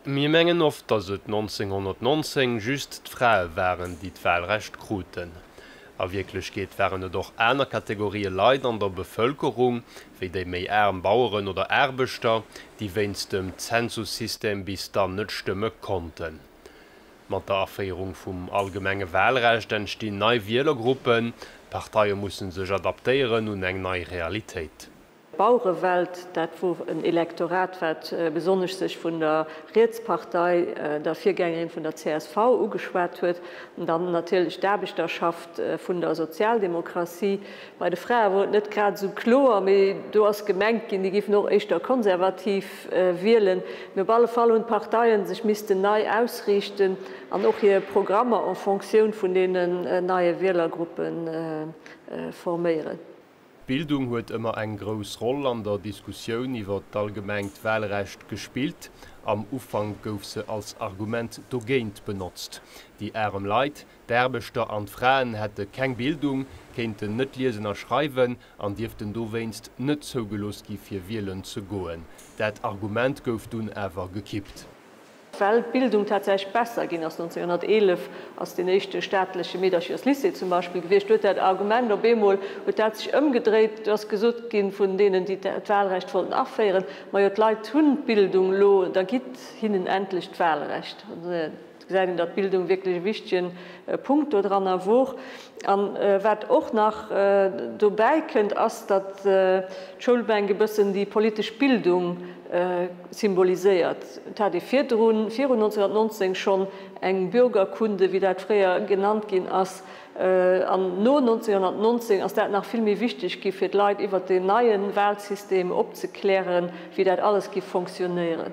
Mir mengen oft, datt et 1919 just d'Frae waren, déi d'Wahlrecht kruten. A Wierklechkeet waren et och aner Kategorie Leit an der Bevëlkerung, wéi déi méi aarm Baueren oder Aarbechter, déi wéinst dem Zensussystem bis dann net stëmme konnten. Mat der Aféierung vum allgemenge Wahlrecht entstinn nei Wielergruppen, d'Parteie musse sech adaptéieren un eng nei Realitéit. Bauerewelt, dat wor en Elektorat wat besonnesch sech vun der Rietspartei, der Virgängerin vun der csv, ugeschwat huet, an dann natierlech d'Aarbechterschaft vun der Sozialdemokratie. Bei de Frae wor et net grad esou kloer, mee do ass gemengt ginn, déi géifen och éischter konservativ wielen. Mee op alle Fall hunn d'Parteien sech missten nei ausriichten an och hir Programmer en Fonctioun vun deenen neie Wielergruppe forméieren. D'Bildung huet ëmmer eng grouss Roll an der Diskussioun iwwer d'allgemengt Wahlrecht gespillt. Am Ufank gouf se als Argument dogéint benotzt, déi arem Leit, d'Aarbechter an d'Fraen hätte keng Bildung, kéinten net liesen a schreiwen an dierften dowéinst net zougelooss gi fir wielen ze goen. Dat Argument gouf dunn awer gekippt. Well d'Bildung tatsächlech besser ginn ass, 1911 ass deen éischte staatleche Meedercherslycée zum Beispill gewiescht, huet dat Argument op eemol, huet dat sech ëmgedréit, et ass gesot ginn vun deenen, déi d'Wahlrecht wollten aféieren, majo d'Leit hunn d'Bildung elo, da gitt hinnen endlech d'Wahlrecht. Do gesäit een, datt d'Bildung wierklech e wichtegen Punkt dodranner wor. An wat och nach dobäi kënnt, ass, datt d'Schoulbänk e bëssen déi politesch Bildung symboliséiert. Et hat ee virdrun, virun 1919 schonn eng Bürgerkunde, wéi dat fréier genannt ginn ass, an no 1919 ass dat nach vill méi wichteg gi fir d'Leit iwwert deen neie Wahlsystem opzeklären, wéi dat alles géif fonctionnéieren.